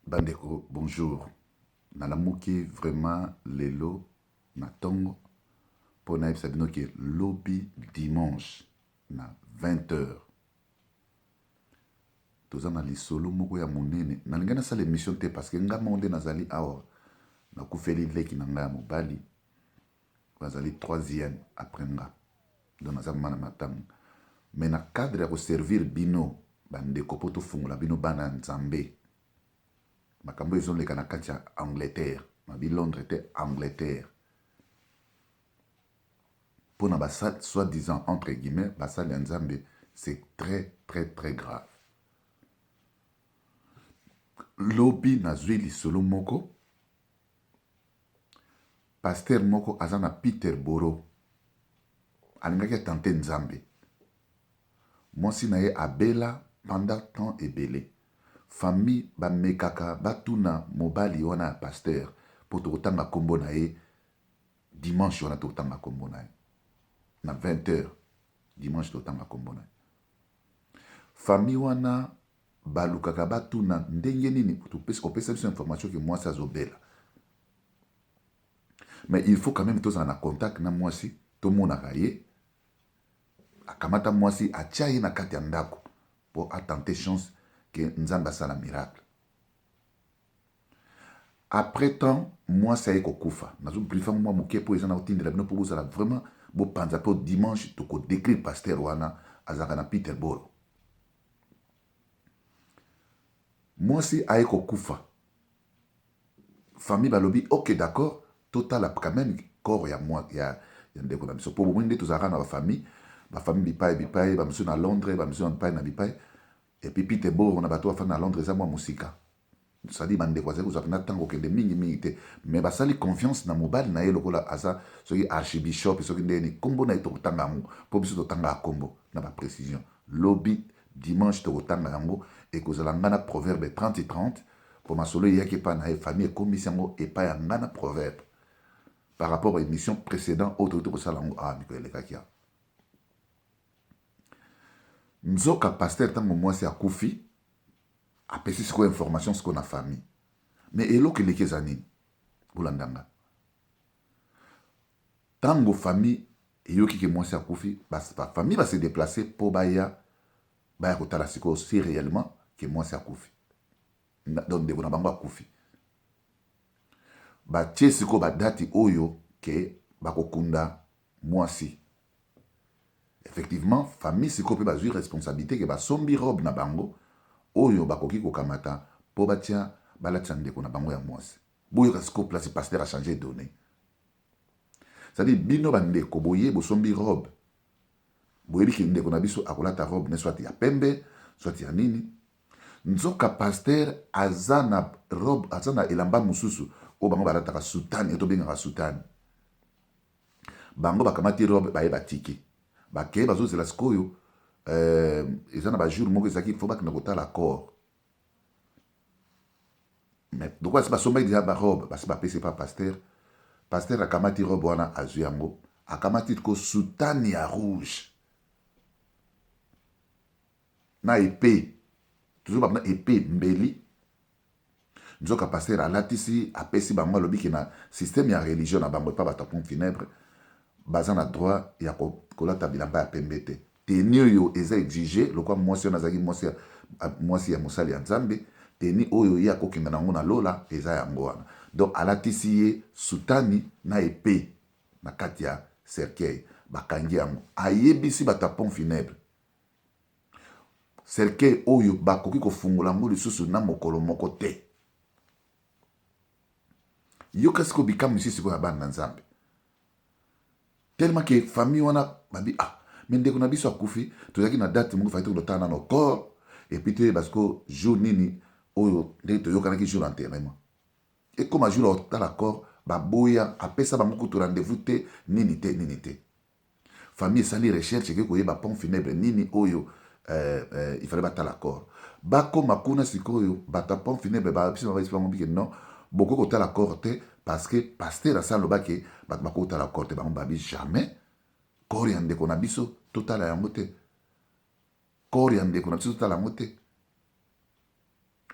Bandeko bonjour, nalamuki vraiment lelo na tongo mpo nayebisa bino ke lobi dimanche na 20 heures toza na lisolo moko ya monene. Nalingi nasala emission te parce que nga moko nde nazali awa, nakufeli leki na nga ya mobali bazali troisième après nga donc naza mama na matanga mais na cadre ya koservir bino bandeko mpo tofungola bino bana ya nzambe makambo ezoleka na kati ya angleterre mabi londres te angleterre mpo na basali soit disant entre guillemets basali ya nzambe c'est très très très grave lobi nazwi lisolo moko Pasteur moko aza na Peterborough alingaki a tenter Nzambe. Mwasi na ye abela pendant temps ebele. Famille ba mekaka batuna mobali wana ya pasteur mpo tokotanga kombo na ye dimanche wana tokotanga kombo na ye na 20 heures dimanche tokotanga kombo na ye. Famille wana Balukaka batuna ndenge nini opesa biso information ke mwasi azo bela mais il faut quand meme tozala na contact na mwasi tomonaka ye akamata mwasi atia ye na kati ya ndako mpo atente chance ke nzambe asala miracle après temps mwasi aye kokufa nazo briefe mwa moke mpo eza na kotindela bino mpo bozala vraiment bopanza mpo dimanche tokodecrire pasteur wana azalaka na peterboro Mwasi aye kokufa famille balobi ok d'accord totala quand meme corps ya ya ndeko na biso po bomoni nde tozalaka na ba famille ba famille bipayi bipayi ba misusu na Londres ba misusu bipayi na bipayi et puis Peterborough na bato bafandi na Londres eza mua musika Sadi bandeko bazali kozwa mpenza ntango kokende mingi mingi te, mais basali confiance na mobali na ye lokola aza soki archibishop soki ndenge nini kombo na ye tokotanga yango mpo biso totangaka kombo na ba precision lobi dimanche tokotanga yango ekozala ngai na proverbe 30 et 30 mpo masolo eyaki epai na ye famille ekomisi yango epai ya ngai na proverbe par rapport à émission précédent oyo tokoki tokosala yango awa mikolo elekaki awa nzoka pasteur ntango mwasi akufi Apesi sikoyo information sikoyo na famille. Mais eloko eleki eza nini? Bolanda nga. Tango famille eyoki ke mwasi akufi, ba famille ba se deplacer po baya baya kotala sikoyo si reellement ke mwasi akufi. Donc ndeko na bango akufi. Batie sikoyo ba dati oyo ke bakokunda Mwasi. Effectivement famille sikoyo pe bazui responsabilite ke basombi robe na bango oyo bakoki kokamata po batia balatisa ndeko na bango ya mwasi. Boyoka sikoyo place pasteur a changer donne. C'est à dire bino ba ndeko boye bosombi robe boyebi ke ndeko na biso akolata robe ne soit ya pembe soit ya nini nzoka pasteur aza na robe aza na elamba mosusu oyo bango balataka soutane oyo tobengaka soutane. Bango bakamati robe baye batiki bake bazozela sikoyo euh, eza na ba jour moko ezalaki faut bakenda kotala corps mais lokola si basombaki deja barobe basi bapesi epa paster paster akamati robe wana azwi yango akamati ko sutani ya rouge na epe tozo bamina epe mbeli Nzoka pasteur alatisi apesi bango alobi ke na systeme ya religion na bango epa batu ya pont funebre baza na droit ya kolata bilamba ya pembe te tenue oyo eza exige lokola muasi wana azalaki muasi muasi ya mosali ya nzambe tenue oyo ye akokenda nango na lola eza yango wana donc alatisi ye sutani na epe na kati ya cercueil bakangi yango ayebisi batu ya pont funebre Cercueil oyo bakoki kofungola yango lisusu na mokolo moko te. Yoka sikoyo bikamwisi sikoyo ya bana na Nzambe. Tellement que famille wana babi ah mais ndeko na biso akufi tozalaki na date moko fayaki tokotala nano corps et puis toyeba sikoyo jour nini oyo ndenge toyokanaki jour ya enterrement. Ekoma jour ya kotala corps baboya apesa bango kutu rendez-vous te nini te nini te. Famille esali recherche eke koyeba pont funebre nini oyo euh, euh, il fallait batala corps. Bakoma kuna sikoyo bato ya pont funebre babisi babisi bango bike non bokoki kotala corps te parce que pasteur asi aloba ke bato bakoki kotala corps te bango babi jamais corps ya ndeko na biso totala yango te corps ya ndeko na biso totala yango te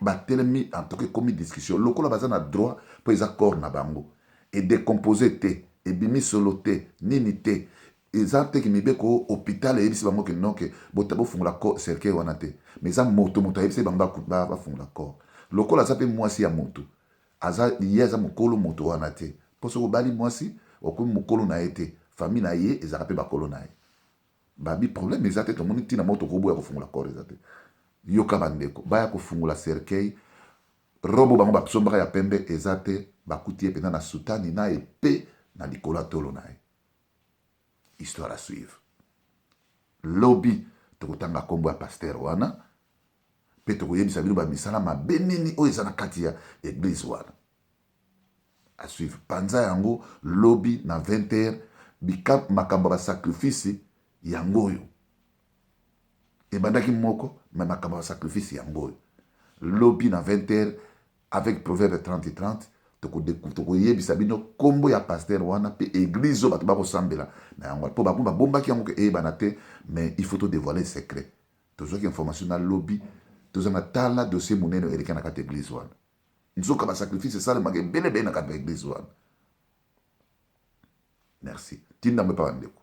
Ba telemi en tout cas ekomi discussion lokola baza na droit po eza corps na bango e decompose te ebimi solo te nini te eza te ke mibeko oyo hopital eyebisi bango ke non ke bofungola corps cercueil wana te mais eza moto moto ayebisaki bango ba fungola corps lokola aza pe muasi ya mutu aza ye aza mukolo moto wana te po soki obali muasi okomi mukolo na ye te famille na ye ezalaka pe bakolo na ye. Babi problème eza te tomoni tina moko toko boya kofungola corps eza te yoka ba ndeko baya kofungola cercueil robe bango ba sombaka ya pembe eza te bakuti ye penza na soutane na epee na likolo ya tolo na ye histoire à suivre lobi toko tanga kombo ya pasteur wana pe toko yebisa bino ba misala mabe nini oyo eza na kati ya eglise wana. A suivre. Panza yango lobi na 20 heures bikab makambo ya ba sacrifice yango oyo. Ebandaki moko mais makambo ya ba sacrifice yango oyo. Lobi na 20 heures avec proverbe 30 30 toko de toko yebisa bino kombo ya pasteur wana pe eglise oyo batu bako sambela na yango wana po ba komi ba bombaki yango ke eyebana te mais il faut to devoiler secret. Tozwaki information na lobi toza na tala dossier munene oyo eleka na kati ya eglise wana. nzoka ba sacrifice esalemaka ebele ebele na kati na eglise wana merci tinda yango epa bandeko